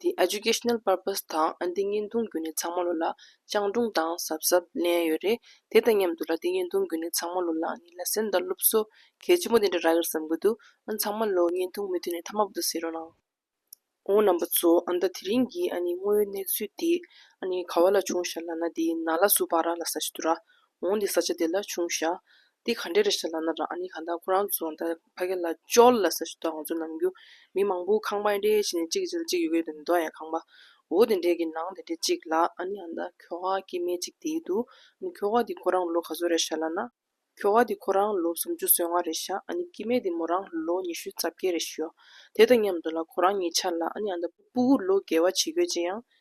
འདི Educational Purpose དང་འདི་བརྙན་ཐུང་བརྒྱུད་ནས་ཚང་མ་ལོ་ལ་སྤྱང་གྲུང་དང་གཟབ་གཟབ་ལེན་ཡོད་རེད་དེ་དང་མཉམ་དུ་ལ་འདི་བརྙན་ཐུང་བརྒྱུད་ནས་ཚང་མ་ལོ་ལ་ནི་ལ་སེམས་དང་སློབ་གསོ་གལ་ཆེན་པོ་འདི་འདྲ་རག་གིར་བསམ་གི་འདུག་ཨ་ནི་ཚང་མ་ལོ་བརྙན་ཐུང་མི་མཐུད་ནས་མཐའ་མ་བུ་དང་བསེ་རོགས་གནང། ཨོ་རྣམ་པ་ཚོ་ཨ་མདའ་དེ་རིང་གི་ཨ་ནི་དངོས་ཡོད་གནས་ཚུལ་དེ་ཨ་ནི་ག་བ་ལ་བྱུང་ཞག་ལ་ན་དེ་ན་ལ་སུ་བ་ར་ལ་ས་ཆ་དུ་ར་འོང་དེ་ས་ཆ་དེ་ལ་བྱུང་ཞག་འདི་ག་འདྲས་རེད་ཞེས་ལབ་ན་རང་ཨ་ནི་གང་དང་ཁོ་རང་ཚོ་ད་ཕ་སྐད་ལ་ཅོལ་ལ་ཟེར་ཞོར་དུ་ང་ཚོ་ནང་རྒྱུ་མི་མང་པོ་ཁང་པ་འདྲས་བྱས་ནས་གཅིག་གི་རྗེས་ལ་གཅིག་ཡོད་གི་འདུག་མདོ་ཡང་ཁང་པ་འོ་དེ་འདྲས་ཀྱི་ནང་དེ་འདྲས་གཅིག་ལ་ཨ་ནི་ཨ་མདའ་ཁྱོ་ག་སྐྱེས་མའི་གཅིག་དེའི་འདུག་ཨ་ནི་ཁྱོ་ག་འདི་ཁོ་རང་ལོ་ག་ཚོད་རེད་ཞེས་ལབ་ན། ཁྱོ་ག་འདི་ཁོ་རང་ལོ་སུམ་ཅུ་སོ་ལྔ་རེད་ཤག་ཨ་ནི་སྐྱེས་མའི་འདི་མོ་རང་ལོ་ཉི་ཤུ་རྩ་བརྒྱད་རེད་ཤོག་དེ་དང་མཉམ་དུ་ལ་ཁོ་རང་གཉིས་ཆར་ལ་ཨ་ནི་ཨ་མདའ་སྤུ་བོ་ལོ་བརྒལ་བ་བྱེད་དགོས་ཅེས་ཡང་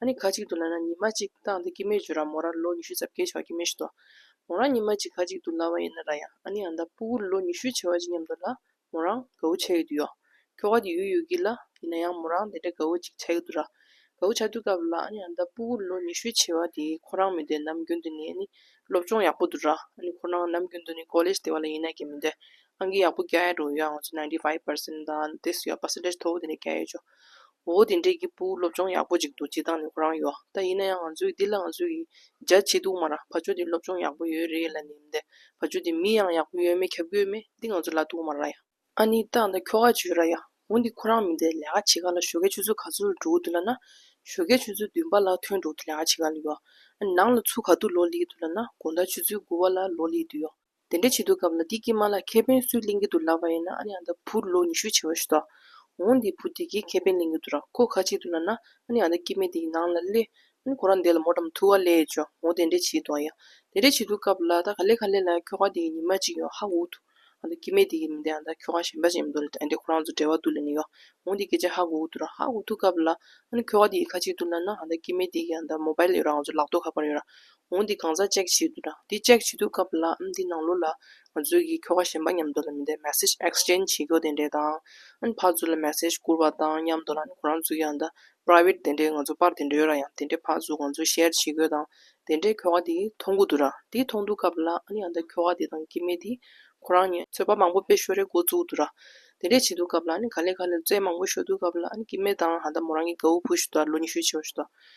ཨ་ནི་ཁ་ཅིག་ཏུ་ལ་ན་ཉི་མ་གཅིག་བཏང་སྟེ་སྐྱེད་མོས་བྱོས་ར་མོ་ར་ལོ་ཉི་ཤུ་ཙམ་སྐྱེད་བྱ་བ་ཀྱི་མི་ཤི་དོ། མོ་རང་ཉི་མ་གཅིག་ཁ་ཅིག་ཏུ་ལ་བ་ཡིན་ན་ར་ཡང་ཨ་ནི་ཨ་མདའ་པུའུ་ལོ་ཉི་ཤུའི་བྱེ་བ་ཅི་སྙམ་དུ་ལ་མོ་རང་དགའ་བོ་བྱེད་ཀྱི་འདུག་ཡོད། ཁྱོ་ག་དེ་ཡུལ་ཡོད་ཀྱི་ལ་ཡིན་ན་ཡང་མོ་རང་དེ་འདྲ་དགའ་བོ་ཅིག་བྱ་ཡི་འདུག་ར། དགའ་བོ་བྱ་འདུག་སྐབས་ལ་ཨ་ནི་ཨ་མདའ་པུའུ་ལོ་ཉི་ཤུའི་བྱེ་བ་དེ་ཁོ་རང་མི་འདོད་ནམ་རྒྱུན་དུ་ནི་ཨ་ནི་སློབ་སྦྱོང་ཡག་པོ་འདུག་ར་ཨ་ནི་ཁོ་རང་ནམ་རྒྱུན་དུ་ནི་ཀོ་ལེས་དེ་བ་ལ་ཡིན་ན་གྱེས་མི་འདོད་ཨང་ཀི་ཡག་པོ་རྒྱ་ཡག་འགྲོ་ཡོད་ཨང་ང་ཚོ ninety five percent དང་དེ་སུ་ཡང percentage མཐོ་བོ་དེ་འདྲ་རྒྱ་ཡོད་ཆོག་འོ་འོ་དེ་འདྲའི་གི་སྤུའུ་སློབ་སྦྱོང་ཡག་པོ་ཅིག་འདུག་སྤྱི་བཏང་ནས་ཁོ་རང་ཡོག་ད་ཡིན་ན་ཡང་ང་ཚོའི་འདི་ལ་ང་ཚོའི་གི་རྒྱ་ཆེ་འདུག་མ་རང་ཕ་ཆོས་འདི་སློབ་སྦྱོང་ཡག་པོ་ཡོད་རེད་ལ་ནི་མི་འདེད་ཕ་ཆོས་འདི་མི་ཡང་ཡག་པོ་ཡོད་མེད་ཁྱབ་དགོས་མེད་འདི་ང་ཚོ་ལ་འདུག་མ་ར་ཡ། ཨ་ནི་སྟག་ད་ཁྱོ་ག་བྱོས་ར་ཡ། འོ་འདི་ཁོ་རང་མི་འདེད་ལས་ཀ་བྱེད་ག་ལ་ཞོ་ཀའི་ཆུ་ཚོད་ག་ཚོད་འགྲོ་གི་འདུག་ལ་ན། ཞོ་ཀའི་ཆུ་ཚོད་བདུན་པ་ལ་ཐོན་འགྲོ་གི་འདུག་ལས་ཀ་བྱེད་ག་ལ་ཡོ། ཨ་ནི་ནང་ལ་ཆུ་ག་དུ་ལོག་ལེ་གི་འདུག་ལ་ན་དགོང་ད་ཆུ་ཚོད་དགུ་བ་ལ་ལོག་ལེ་གི་འདུག་ཡོ། དེ་འདྲ་བྱེད་འདུག་སྐབས་ལ་དེ་སྐྱིད་མ་ལ་ཁེ་ཕན་སུས་གླེང་གི་འདུག་ལབ་པ་ཡིན་ན་ཨ་ནེ་ཨ་མདའ་བུ་ལོ་ཉི་ཤུ་བྱེ་བ་ཞིག་འདུག་འོང་འདི་བུ་དེ་གའི་ཁེ་ཕན་གླེང་གི་འདུག་ར་ཁོ་ཁ་ཅིག་ཏུ་ན་ན་ཨ་ནེ་ཨ་མདའ་སྐྱིད་མེད་དེ་ཡི་ནང་ལ་གླེ་ཨ་ནེ་ཁོ་རང་འདས་ལ་མོ་འགྲམ་ཐུ་བ་ལས་ཅོ་འོང་དེ་འདྲ་བྱེད་འདུག་ཡ་དེ་འདྲ་བྱེད་འདུག་སྐབས་ལ་ད་ག་ལེ་ག་ལེ་ལ་ཁྱོ་ག་དེ་ཡི་ཉི་མ་ཅིག་ཡོང་ཧ་འུ་ཐུག་ཨ་མདའ་སྐྱིད་མེད་དེ་ཡི་མི་འདས་ཨ་མདའ་ཁྱོ་ག་གཞན་པ་ཅིག་ཡིན་འདུག་ལ་ཨ་མདའི་ཁོ་རང་ཚོ་འབྲེལ་བ་དུ་ལེན་ནི་ཡོང་འོང་འདི་སྐད་ཆ་ཧ་འུ་ཐུག་ར་ཧ་འུ་ཐུག་སྐབས་ལ་ཨ་ནེ་ཁྱོ་ག་དེ་ཡི་ཁ་ཅིག་ཏུ་ན་ན་ཨ་མདའ་སྐྱིད་མེད་དེ་གི་ཨ་མདའ་མོ་བའི་ལས་རོ་ཨང་ཚོ་ལག་ཏུ་ཁ་པར་ཡོད་ར་འོང་འདི་གང་ཟག་ཅེག་བྱེད་དུ་གྲ། འདི་ཅེག་བྱེད་དུ་སྐབས་ལ་འམ་འདི་ནང་ལོ་ལ། ང་ཚོས་གིས་ཁྱོ་ག་གཞན་པ་མཉམ་དུ་ལ་མི་འདའི message exchange བྱེད་ཁྱོ་དེ་འདྲས་དང། འམ་ཕག་ཚུ་ལ message བསྐུར་བ་དང་མཉམ་དུ་ལ་ཁོ་རང་ཚུ་ཡང་འདའ private དེ་འདྲས་ང་ཚོ་པར་དེ་འདྲས་ཡོད་ར་ཡང་དེ་འདྲས་ཕག་ཚུ་ང་ཚོས share བྱེད་ཁྱོ་དང་དེ་འདྲས་ཁྱོ་ག་དེ་མཐོང་གུ་དུ་ར་དེ་མཐོང་དུ་སྐབས་ལ་འམ་ཡང་འདའ་ཁྱོ་ག་དེ་དང་སྐྱེ་མེད་དེ་ཁོ་རང་ཉེ། ཚོད་པ་མང་པོ་པས་ཤོ་རེ་འགོ་བཙུག་དུ་ར། དེ་འདྲས་བྱེད་དུ་སྐབས་ལ་འམ་ག་ལེ་ག་ལེར་རྩེད་མང་པོ་ཤོ་དུ་སྐབས་ལ་འམ་སྐྱེ་མེད་དང་འམ་འདའ་མོ་རང་གིས་གའུ་ཕུ་ཤོ་དང་ལོ་ཉི་ཤུ་ཆེ་བ་ཤོ་དང།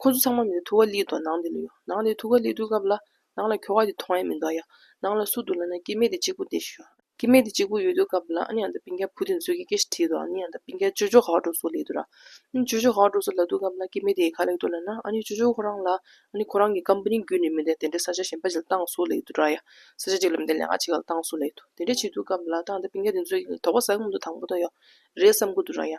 ཁོ་ཚོ་ཚང་མ་མི་འདུག་ཐུགས་ཀ་ལི་དང་ནང་དེ་ལ་ཡོད། ནང་དེ་ཐུགས་ཀ་ལི་འདུག་སྐབས་ལ། ནང་ལ་ཁྱོ་ག་དེ་མཐོང་ཡ་མི་འདུག་ཡ། ནང་ལ་སུ་འདུག་ལབ་ན་སྐྱེ་མེད་དེ་གཅིག་པོ་དེ་ཤོད། སྐྱེ་མེད་དེ་གཅིག་པོ་ཡོད་འདུག་སྐབས་ལ་ཨ་ནེ་ཨ་མདའ་པིང་ཁའི་བུ་དེ་ཚོས་ཀྱི་ཀྱེ་ཞེས་དྲིས་འདུག་ཨ་ནེ་ཨ་མདའ་པིང་ཁའི་ཅོ་ཅོ་ག་ག་འགྲོ་སོགས་ལས་འདུག་ར། ཨ་ཅོ་ཅོ་ག་ག་འགྲོ་སོགས་ལབ་འདུག་སྐབས་ལ་སྐྱེ་མེད་དེ་ག་ལེགས་འདུག་ལབ་ན་ཨ་ནེ་ཅོ་ཅོ་ཁོ་རང་ལ། ཨ་ནེ་ཁོ་རང་གི་ཀམ་པ་ནི་རྒྱུད་ནས་མི་འདེད་དེ་འདྲའི་ས་ཆ་གཞན་པ་ཞིག་ལ་བཏང་སོགས་ལས་འདུག་ར་ཡ། ས་ཆ་གཅིག་ལ་མི་འདེད་ལས་ང་གཅིག་ག་ལ་བཏང་སོགས་ལས་འདུག་དེ་འདྲས་བྱས་འདུག་སྐབས་ལ་ཨ་མདའ་པིང་ཁའི་དེ་ཚོས་ཀྱི་དོགས་པ་ཟ་གི་མི་འདུག་དང་པོ་དང་ཡོད་རེད་བསམ་གྱི་འདུག་ར་ཡ།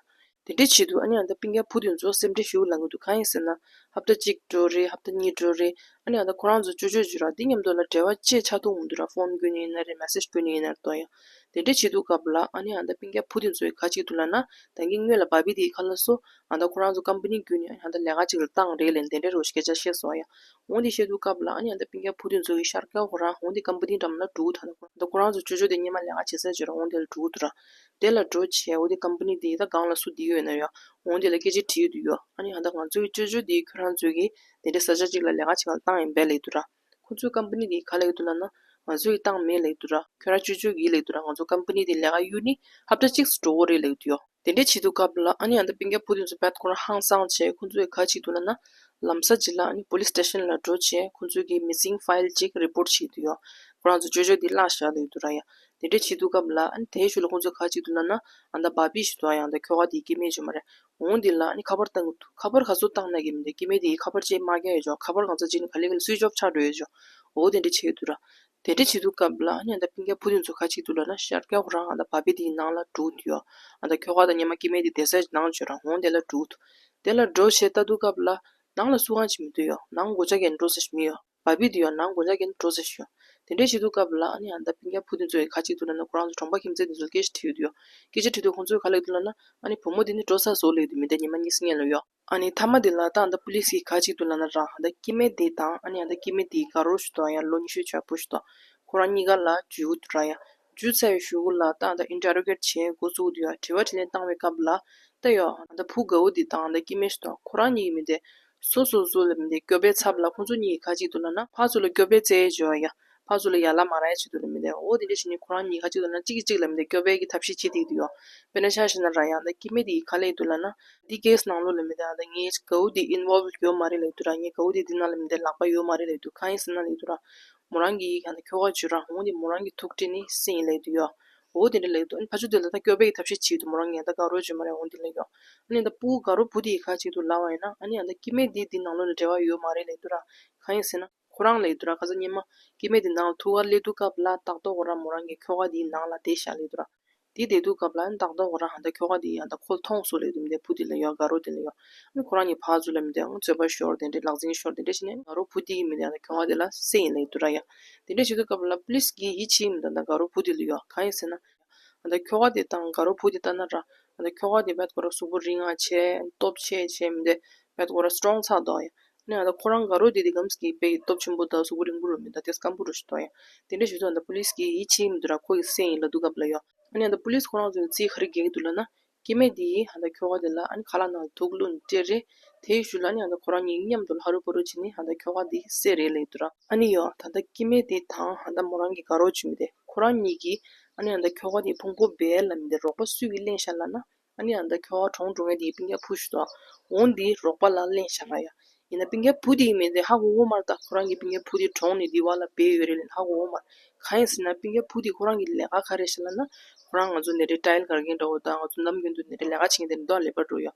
དེ་འདྲའི་ཆེད་དུ་ཨ་ནེ་ཨ་མདའ་པིང་ཀའི་བུ་དེ་ཚོ་སེམས་ཁྲལ་ཞུ་གི་ལ་ངོ་ཏུ་གང་ཡིན་ཟེར་ན། ཧབ་ད་གཅིག་འགྲོ་རེད་ཧབ་ད་གཉིས་འགྲོ་རེད་ཨ་ནེ་ཨ་མདའ་ཁོ་རང་ཚོ་ཅོ་ཅོ་བྱོས་ར་འདི་སྙམ་དུ་ལ་བྲེལ་བ་ཅེས་ཆ་ཐུང་ངུ་འདུག་ར་ཕོན་བསྐུར་ནི་ཡིན་ན་རེད་མེ་སེར་བསྐུར་ནི་ཡིན་ན་རེད་དོ་ཡང། དེ་འདྲའི་བྱེད་འདུག་སྐབས་ལ་ཨ་ནེ་ཨ་མདའ་པིང་ཀའི་བུ་དེ་ཚོའི་ཁ་ཅིག་ཏུ་ལ་ན་དང་གིས་ངོས་ལ་བ་བི་དེའི་ཁ་ལ་སོ། ཨ་མདའ་ཁོ་རང་ཚོ་ཀམ་པ་ནི་བསྐུར་ནི་ཨ་ནེ་ཨ་མདའ་ལས་ཀ་ཅིག་ལ་བཏང་རེད་ལན་དེ་འདྲའི་རོ་སྐད་ཆ་བཤད་སོང་ཡང། འོང་དེ་བཤད་འདུག་སྐབས་ལ་ཨ་ནེ་ཨ་མདའ་པིང་ཀའི་བུ་དེ་ཚོ་གིས་ཤར་ཀའོ་ཧོ་ར་འོང་དེ་ཀམ་པ་ནི་འགྲམ་ལ་འགྲོ་གི་ད་ལྟ་ཁོ་རང་ཚོ་ཅོ་ཅོ་དེ་སྙེ་མ་ལས་ཀ་བྱེད་ས་བྱོས་ར་འོང་དེ་ལ་འགྲོ་གི་འདུག་ར། དེ་ལ་འགྲོ་བྱའི་འོ་དེ Company དེ་ད་གང་ལ་སུ་བསྡིགས་ཡོད་ན་ཡོད་ཨང་འོང་དེ་ལ་སྐད་ཆ་དྲི་ཡོད་དུ་ཡོད་ཨ་ནི་ཧ་ད་ང་ཚོའི་ཅོ་ཅོ་དེའི་ཁྱོད་རང་ཚོའི་གིས་དེ་འདྲའི་ས་ཆ་གཅིག་ལ་ལས་ཀ་བྱེད་ཁང་ཏང་ཡིན་པའི་ལེགས་དུ་ར་ཁོ་ཚོའི Company དེའི་ག་ལེགས་དུ་ལ་ན་ང་ཚོའི་གིས་ཏང་མེད་ལེགས་དུ་ར་ཁྱོད་རང་ཅོ་ཅོའི་གིས་ལེགས་དུ་ར་ང་ཚོ Company དེའི་ལས་ཀ་གཡུར་ནི་ཧ་ད་གཅིག་སུ་འགྲོ་འོ་རེད་ལེགས་དུ་ཡོད། དེ་འདྲའི་བྱེད་དུ་སྐབས་ལ་ཨ་ནི་ཨ་ད་པིང་ཀ་བུ་དེ་ཚོ་བད་ཁོ་རང་ཧང་སང་བྱས་ཁོ་ཚོའི་གིས་ག་བྱེད་དུ་ལ་ན་ལམ་ས་གཅིག་ལ་ཨ་ནི Police Station ལ་འགྲོ་བྱས་ཁོ་ཚོའི་གིས Missing File གཅིག Report བྱེད་དུ་ཡོད་ཁོ་རང་ཚོ་ཅོ་ཅོ་དེའི་བརླག་བཞག་ལེགས་དུ་ར་ཡ་དེ་འདྲ་བྱེད་འདུག་གམ་ལགས་དེའི་ཞོར་ལ་ཁོང་ཚོས་ཁ་གཅིག་ཏུ་ལབ་ན་འདའ་འབའ་པི་ཞིག་ཏུའང་ཡང་འདའ་ཁྱོ་ག་དེའི་སྐྱེ་དམན་བྱུང་བ་རེད་འོང་འདི་ལ་ཁ་པར་བཏང་གི་འདུག་ཁ་པར་ག་ཚོད་བཏང་ན་གི་མི་འདའ་སྐྱེ་དམན་དེའི་ཁ་པར་ཅེས་སྨྲ་མཁན་ཡོད་ཆོག་ཁ་པར་གང་ཚ་གཅིག་ན་ག་ལེ་ག་ལེ Switch off ཆགས་འགྲོ་ཡོད་ཆོག་འོ་དེ་འདྲ་བྱེད་འདུག་ར་དེ་འདྲ་བྱེད་འདུག་གམ་ལགས་འདའ་ཕི་ཀ་བུ་དེ་ཚོ་ཁ་གཅིག་ཏུ་ལབ་ན་ཤར་སྐྱོ་ཁོ་རང་འདའ་འབའ་པི་དེའི་ནང་ལ་འདྲུག་འདུག་ཡོ་འདའ་ཁྱོ་ག་དང་ཉི་མ་སྐྱེ་དམན་དེ་འདའ་སའི་ནང་བྱོས་རང་འོང་དེ་ལ་འདྲུག་འདུག་དེ་ལ་འགྲོ་བྱེད་ལྟ་འདུག་གམ་ལགས་ནང་ལ་སུ་གང་བྱེད་མི་འདུག་ཡོ་ནང་འགོ་བྱ་མཁན་འགྲོ་ས་ཞིག་མི་ཡོ། བ་བི་དེ་ཡོ་ནང་དགོན་ཆ་གན་དུ་འགྲོ་ཟེར་ཞུ། དེ་འདྲའི་ཞིག་འདུག་སྐབས་ལ་ཨ་ནེ་ཨ་མདའ་བི་མཁན་བུ་དེ་ཚོའི་ཁ་གཅིག་ཏུ་ལ་ན་ཁོ་རང་ཚོ་གྲོང་པ་ཁྱིམ་མཚེས་དེ་ཚོ་ལ་སྐད་ཆ་དྲི་ཡོད་དུ་ཡོད། སྐད་ཆ་དྲི་དུས་ཁོང་ཚོའི་ཁ་ལེགས་དུ་ལ་ན། ཨ་ནེ་བུ་མོ་དེ་ནི་འགྲོ་ས་བཟོ་ལེགས་དུ་མི་འདའ་ཉི་མ་གཉིས་སུ་གཉེན་ལོ་ཡོད། ཨ་ནེ་ཐ་མ་དེ་ལ་ཏང་དང་པུ་ལིས་ཀྱི་ཁ་གཅིག་ཏུ་ལ་ན་རང་ཨ་མདའ་སྐྱིད་མེད་དེ་དང་ཨ་ནེ་ཨ་མདའ་སྐྱིད་མེད་དེའི་དགའ་རོགས་ཞུ་དང་ཡང་ལོ་ཉི་ཤུའི་ཆར་བུ་ཞུ་དང་ཁོ་རང་གཉིས་ཀ་ལ་ཇུས་འུ་ཐུ་རང་ཡང་སྒྱུ་རྩལ་བའི་ཞུ་སྒོ་ལ་ལྟ་ད Interrogate བྱེད་འགོ་བཙུགས་དུས་དྲི་བ་དྲི་ལན་བཏང་བའི་སྐབས་ལ་ལྟ་ཡོད་ད་བུ་དགའ་བོ་འདི་དང་ད་སྐྱིད་མེ་ཤུ་དང་ཁོ་རང་གཉིས་ཀྱི་མི་དེ་སོ་སོ་སོ་ལ་མི་དེ་སྐྱོབ་པའི་ཚབ་ལ་ཁོ་ཚོ་གཉིས་ཀྱི་ཁ་གཅིག་ཏུ་ལ་ན་ཕ་ཚོ་ལ་སྐྱོབ་པའི་རྩལ་བྱེད་བ་ཡ་ཕ་ཚོ་ལ་ཡ་ལ་མ་ར་ཡ་བྱེད་དུ་ལ་མི་དེ་འོ་དེ་འདྲ་བྱེད་ནས་ཁོ་རང་གཉིས་ཀྱི་ཁ་གཅིག་ཏུ་ལ་ན་གཅིག་གིས་གཅིག་ལ་མི་དེ་སྐྱོབ་པའི་གི་ཐབས་ཤེས་བྱེད་དེ་དུ་ཡོད་དཔེར་ན་ཤ་ཤེ་ན་ར་ཡང་ད་སྐྱིད་མེ་དེ་ཡི་ཁ་ལས་དུ་ལ་ན་འདི་གས་ནང་ལོགས་ལ་མི་དེ་ད་ངའི་དགའ་བོ་འདི Involved ཡོད་མ་རེད་ལ་དུ་ར་ངའི་དགའ་བོ་འདི་འདི་ནང་ལ་མི་དེ་ལག་པ་ཡོད་མ་རེད་ལ་དུ་ཁ་ཡིན་ཟེར་ན་ལ་དུ་ར་མོ་རང་གི་ཡིག་ཡང་ནི་ཁྱོ་ག་བརྗོད་རང་འོང་དེ་མོ་རང་གི་ཐུགས་ཁྲེལ་ནི་སེམས་ཡིན་ལེགས་འདུག་ཡོའོ་དེ་འདྲ་ལེགས་འདུག་ཨ་ཕ་ཆུ་འདི་ལ་ད་སྐྱོ་བས་ཀྱི་ཐབས་ཤེས་བྱེད་དུ་མོ་རང་ངས་ད་དགའ་རོགས་བྱོས་མ་རེད་འོང་དེ་ལེགས་ཡོ་ཨ་ནི་ད་སྤུ་གུ་དགའ་རོགས་བུ་དེའི་ཁ་ཅིག་ཏུ་ལ་བ་ཡིན་ན་ཨ་ནི་ཡང་ད་སྐྱི་སྨད་དེའི་འདི་ནང་ལོ་ལ་འབྲེལ་བ་ཡོད་མ་རེད་ལེགས་འདུག་ར་གང་ཡིན་ཟེར་ན། ཁོ་རང་ལེགས་འདུག་ར་ཁ་ཟ་སྙན་མོ་སྐྱི་སྨད་དེ་ནང་ལ་ཐུག་ག་ལེགས་འདུག་ག་བ་ལ་ཏག་ཏོག་གོ་ར་མོ་རང་གི་ཁྱོ་ག་དེའི་ནང་ལ་དེད་བཞག་ལེགས་འདུག་ར། དེའི་བདེ་སྡུག་སྐབས་ལ་ནི་བདག་ལྟ་བ་རང་ད་ཁྱོ་ག་འདི་ཡང་ད་ཁོ་ལ་ཐོང་གསུངས་ལེ་དུ་མི་འདེ་བུ་འདི་ལ་ཡོད་དགའ་རོགས་འདི་ལ་ཡོད་ཨང་ཁོ་རང་གཉིས་བག་ཚོད་ལ་མི་འདེ་ཨང་ཚོད་པ་ཤོར་དེ་འདྲས་ལག་འཛིང་ཤོར་དེ་འདྲས་བྱས་ནས་དགའ་རོགས་བུ་འདི་ཡིན་མི་འདེ་ཡང་ད་ཁྱོ་ག་འདི་ལ་སེ་ཡིན་ལེ་དུ་ར་ཡང་དེ་འདྲས་བྱེད་དུས་སྐབས་ལ please གིས་ཡིད་ཆེས་མི་འདུག་ད་དགའ་རོགས་བུ་འདི་ལ་ཡོད་གང་ཡིན་ཟེར་ན། ཨང་ད་ཁྱོ་ག་འདི་དང་དགའ་རོགས་བུ་འདི་ལྟ་ན་ར་ཨང་ད་ཁྱོ་ག་འདི་བད་དགོ་ར་གཟུགས་པོ་རིང་ང་ཆེ། སྟོབས་ཆེ་བྱས་མི་འདེ་བད་དགོ་ར strong ཚགས་མདོག་ཡང་ནས་ད་ཁོ་རང་དགའ་རོགས་དེ་དེ་གམ་ཟིག་པའི་སྟོབས་ཆེན་པོ་དང་གཟུགས་པོ་རིང་པོ་རུ་མི་འདང་སྟེ་སྐམ་པོ་རུ་ཞིག་འདོག་ཡ། དེ་འདྲ་ཞུ་དོན་ད་པུ་ལིས་ཀྱིས་ཡིད་ཆེས་མི་འདུག་ར་ཁོ་ཡི་སེམས་ཡིན་ལ་སྡུག་ག་བ་ལ་ཡོད། ནས་ད་པུ་ལིས་ཁོ་རང་ཚོའི་རྩིས་ཁ་རི་གེག་འདུག་ལ་ན། སྐྱེ་མེད་དེ་ཡིས་ད་ཁྱོ་ག་དེ་ལ་ཁ་ལག་ནང་དུག་བླུག་ནས་སྤྲད་རེད། དེ་ཡི་ཞུ་ལ་ནས་ད་ཁོ་རང་གཉིས་མཉམ་དུ་ལྷ་རུ་པོ་རུ་བྱས་ནས་ད་ཁྱོ་ག་དེ་བསད་རེད་ལེགས་འདུག་ར། ཨ་ནི་ཡོ། ད་ལྟ་སྐྱེ་མེད་དེ་དང་ད་མོ་རང་གི་དགའ་རོགས་བྱུས་མི་བདེ། ཁོ་རང་གཉིས་ཀྱིས། ནས་ད་ཁྱོ་ག་དེ་ཕུང་པོ་སྦལ་ལ་མི་བདེ་རོགས་པ་སུས་ཀྱིས་གླེང་བཞག་ལ་ན། ཨ་ནེ་ཨ་མདའ་ཁྱོད་ཨ་གྲོངས་འགྲོ་ངེས་དེ་པིང་ཀའི་བུ་ཞིག་ཏུ་འོང་དེ་རོགས་པ་ལ་གླེང་བཞག་ང་ཡ། ཡིན་ན་པིང་ཀའི་བུ་དེ་མིན་ཏེ་ཧ་གོ་གོ་མར་ད་ཁོ་རང་གི་པིང་ཀའི་བུ་དེ་གྲོངས་ནས་དེ་བ་ལ་སྦས་ཡོད་རེད་ལན་ཧ་གོ་གོ་མར། གང་ཡིན་ཟེར་ན་པིང་ཀའི་བུ་དེ་ཁོ་རང་གི་ལས་ཀ་ག་རེ་བྱེད་ལ་ན། ཁོ་རང་ང་ཚོ་ནད་རིགས་ཏྲཱིལ་གར་མཁན་འདྲ་བོ་དང་ང་ཚོ་ནམ་རྒྱུན་དུ་ནད་རིགས་ལས་ཀ་བྱེད་མཁན་དེ་འདྲ་ལས་པར་འགྲོ་ཡ།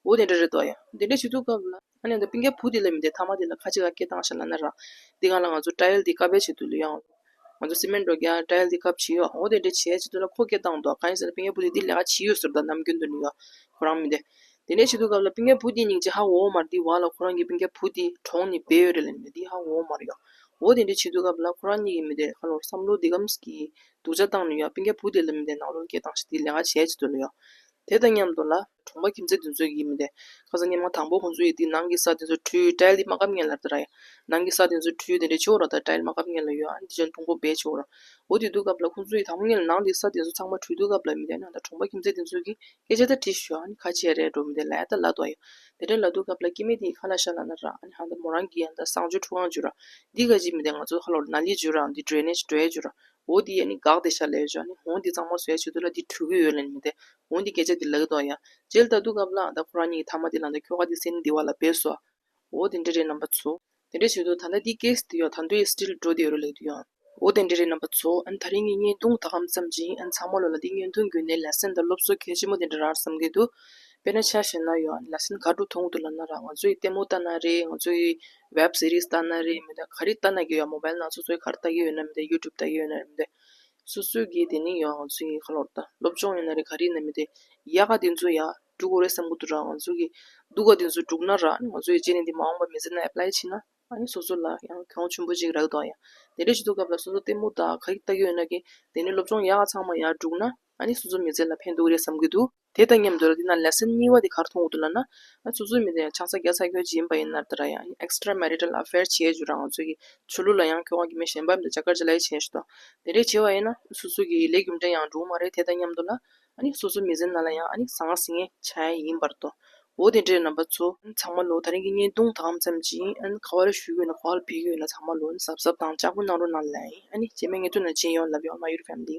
འོ་དེ་འདྲ་རེད་འདོད་ཡ། དེ་འདྲ་བྱེད་འདོད་སྐབས་ལ། ཨ་ནེ་འདི་པིང་ཀའི་བུ་དེ་ལས་མི་འདས་མཐའ་མ་དེ་ལ་ཁ་ཅིག་ལ་སྐད་བཏང་ཤ་ལ་ན་ར། འདི་གང་ལ་ང་ཚོ Trial འདི་ཀ་བེད་བྱེད་དུ་ལོས་ཡང། ང་ཚོ་སི་མེན་འགྲོ་རྒྱ Trial འདི་ཀབ་བྱེད་ཡོའོ་དེ་འདྲས་བྱས་བྱེད་དུ་ལ་ཁོ་སྐད་བཏང་འདུག་ག་ཡིན་ཟེར་ན་པིང་ཀའི་བུ་དེ་འདི་ལས་ཀ་བྱེད་ཡོའོ་ཟེར་དུ་ལ་ནམ་རྒྱུན་དུ་ནི་ཡོའོ་ཁོ་རང་མི་འདས། དེ་འདྲས་བྱེད་དུ་ཀབ་ལ་པིང་ཀའི་བུ་དེ་སྙིང་རྗེ་ཧ་འོའོ་མར་འདི་བ་ལ་ཁོ་རང་གི་པིང་ཀའི་བུ་དེ་གྲོང་ནི་བེད་ཡོད་རེད་ལ་ནི་འདི་ཧ་འོའོ་མར་ཡོའོ་དེ་འདྲས་བྱེད་དུ་ཀབ་ལ་ཁོ་རང་གཉིད་ཀྱི་མི་འདས་ཧ་ལོར་བསམ་བློ་འདི་ཀམ་གིས་སྡུག་ཅག་བཏང་ནི་ཡོའོ་པིང་ཀའི་བུ་དེ་ལ་མི་འདས་ནག་ལོར་སྐད་བཏང་ཤ་འདི་ལས་ཀ་བྱས་བྱེད་དུ་ལོས་ཡོའོ། དེ་དང་མཉམ་དུ་ལ། གྲོང་པ་ཁྱིམ་མཚེས་དེ་ཚོའི་ཡིན་མི་དེ། ཁ་སང་ཉིན་མོ་དང་པོ་ཁོང་ཚོའི་ཡུལ་དེའི་ནང་གི་ས་དེ་ཚོ་འཕྲུལ་དྲྭའི་ལི་མ་གབ་མཁན་ལབ་ཏུ་ར་ཡ། ནང་གི་ས་དེ་ཚོའི་འཕྲུལ་དེ་འདྲའི་ཆུ་བོ་ར་དང་དྲྭའི་ལི་མ་གབ་མཁན་ལ་ཡོད་ཨ་འདི་ཅོན་ཐུང་པོ་སྦས་ཆུ་བོ་ར། འོ་དེ་དུས་སྐབས་ལ་ཁོང་ཚོའི་ཡུལ་དང་པོ་ངེད་ལ་ནང་དེའི་ས་དེ་ཚོ་ཚང་མ་འཕྲུལ་དུ་གབ་ལབ་མི་དེ་ནང་ད་གྲོང་པ་ཁྱིམ་མཚེས་དེ་ཚོའི་གི་སྐད་ཆ་ད་དྲི་ཞོ་ཨ་ཁ་ཆེ་རེད་འགྲོ་མི་དེ་ལ་ཡ་ད་ལ་དོ་ཡ། དེ་འདྲ་ལ་དུས་སྐབས་ལ་སྐྱེ་མེད་དེ་ཡི་ཁ་ལ་ཤ་ལ་ན་ར་ཨ་ཧ་ད་མོ་རང་གི་ཡ་ད་བསང་ཆུ་འཁྲུ་ཁང་བྱུ་ར། འདི་ག་ཅིག་མི་དེ་ང་ཚོ་ཧ་ལོ་ར་ན་ལི་བྱུ་ར་འདི་སྒྲོལ་ནས་སྒྲོལ་བྱུ་ར། འོ་དེ་ཡས་ནི་དགག་དེ་ཤ་ལས་བྱོ་ནི་འོ་དེ་གཙང་མ་བཟོས་བྱེད་དུ་ལ་དེ་ཕྲུ་གུའི་འོད་ལ་ནི་མི་དད་འོ་དེ་སྐད་ཆ་དེ་ལ་གི་དོག་ཡ། རྗེལ་ད་དུ་གབ་ལགས་ད་ཁོ་རང་གཉིས་ཀྱི་ཐ་མ་དེ་ལ་ད་ཁྱོ་ག་དེ་སེ་ནི་དེ་བ་ལ་བེད་སོ། འོ་དེ་འདྲེ་རེད་རྣམ་པ་ཚོ། དེ་འདྲེ་བྱེད་དུ་ད་ད་དེ་སྐད་སི་དེ་ཡོག་ད་འདྲོ་ཡས་སི་དྲི་ལ་འགྲོ་དེ་ཡོ་རོ་ལེགས་དུ་ཡོང། འོ་དེ་འདྲེ་རེད་རྣམ་པ་ཚོ་ཨན་ད་རིང་གི་བརྙན་ཐུང་ད་གམ་ཙམ་བྱིན་ཨན་ཚང་མ་ལོ་ལ་དེ་བརྙན་ཐུང་གུ་ནས་ལ་སེན་ད་སློབ་གསོ་གལ་ཆེན་མོ་དེ་འདྲ་རར་བསམ་གི་འདུག་དཔེ་ན་ཆ་ཞེ་ན་ཡོག་ལ་སེན་ག་དྲུག་ཐུང་གུ་དུ་ལ་ན་ར་ང་ཚོ་ཡི་ལྟད་མོ་ལྟ་ན་རེ་ང་ཚོ་ཡི་བེབ་སི་རིས་ལྟ་ན་རེ་མི་འདུག་ག་རེ་ལྟ་ན་དགེ་བ་མོ་བལ་ནག་སོ་སོའི་ཁར་ལྟ་གི་ཡོད་ན་མི་འདུག་ཡུ་ཀྲུབ་ལྟ་གི་ཡོད་ན་རེ་མི་འདུག་སོ་སོའི་དགེ་དེ་ནི་ཡང་ང་ཚོའི་ཡིན་ཁ་ལོར་ལྟ་སློབ་སྦྱོང་ཡོད་ན་རེ་ག་རེ་ཡིན་ན་མི་འདུག་ཡག་ག་དེ་ཚོ་ཡག་དྲུག་གོ་རེ་བསམ་གོ་དུ་རག་ང་ཚོ་གི་སྡུག་ག་དེ་ཚོ་དྲུག་ན་རག་ང་ཚོ་ཡི་རྗེས་ནས་འདི་མ་འོངས་པ་མི་ཟེར་ན་ཨེ་པླའི་ཕྱི་ན་ཨཱ་ཡིན་སོ་སོ་ལ་ཡང་གྱོང་ཆུན་པོ་ཅིག་རག་གི་འདུག་ཨ་ཡ་དེ་འདྲ་ཞིག་འདུག་སྐབས་ལ་སོ་སོ་ལྟད་མོ་དག་ག་རེ་ལྟ་གི་ཡོད་ན་གི་དེ་ནི་སློབ་སྦྱོང་ཡག་ག་ཚང་མ་ཡག་དྲུག་ན་ཨཱ་ནི་སོ་སོ་མི་ཚེ་ལ་ཕན་འདུག་རེ་བསམ་གི་འདུག། དེ་དང་མཉམ་དུ་ར་འདི་ན་ལེ་སེན་གཉིས་བ་དེ་གར་མཐོང་དགོས་འདུག་ལབ་ན། ང་ཚོ་གཙོས་མི་དེ་ཡང་ཆང་ས་རྒྱག་ས་ཁྱོད་ཀྱི་ཡིན་པ་ཡིན་ནར་ད་ར་ཡང extra marital affair བྱས་བྱུ་ར་ང་ཚོ་གི་ཆོས་ལུགས་ལ་ཡང་ཁྱོ་ག་གི་མི་གཞན་པ་མི་དག་ཇ་དཀར་ཇ་ལེ་བྱས་བྱུ་དང། དེ་རེད་བྱས་བ་ཡིན་ན་སོ་སོ་གི་ལས་རྒྱུ་འབྲས་ཡང་འགྲུབ་མ་རེད་དེ་དང་མཉམ་དུ་ལ། སོ་སོ་མི་ཟེར་ན་ལ་ཡང་ཟ་ང་ཟི་ངེ་བྱ་ཡ་ཡིན་པར་དོ། འོ་དེ་འདྲས་ན་བ་ཚོ། ཚང་མ་ལོ་ད་རིང་གི་བརྙན་ཐུང་དག་ཙམ་གྱིས་ཁ་བ་ར་ཞུ་གི་ཡོད་ན་གོ་བ་ལ་འཕེན་གི་ཡོད་ན་ཚང་མ་ལོ་གཟབ་གཟབ་དང་ལྕག་པོ་གནང་རོགས་གནང་ལ། བྱས་མེད་ངས་ཐུགས་ན་བྱིན་ཡོང་ལབ་ཡོང་མ་ཡུར family།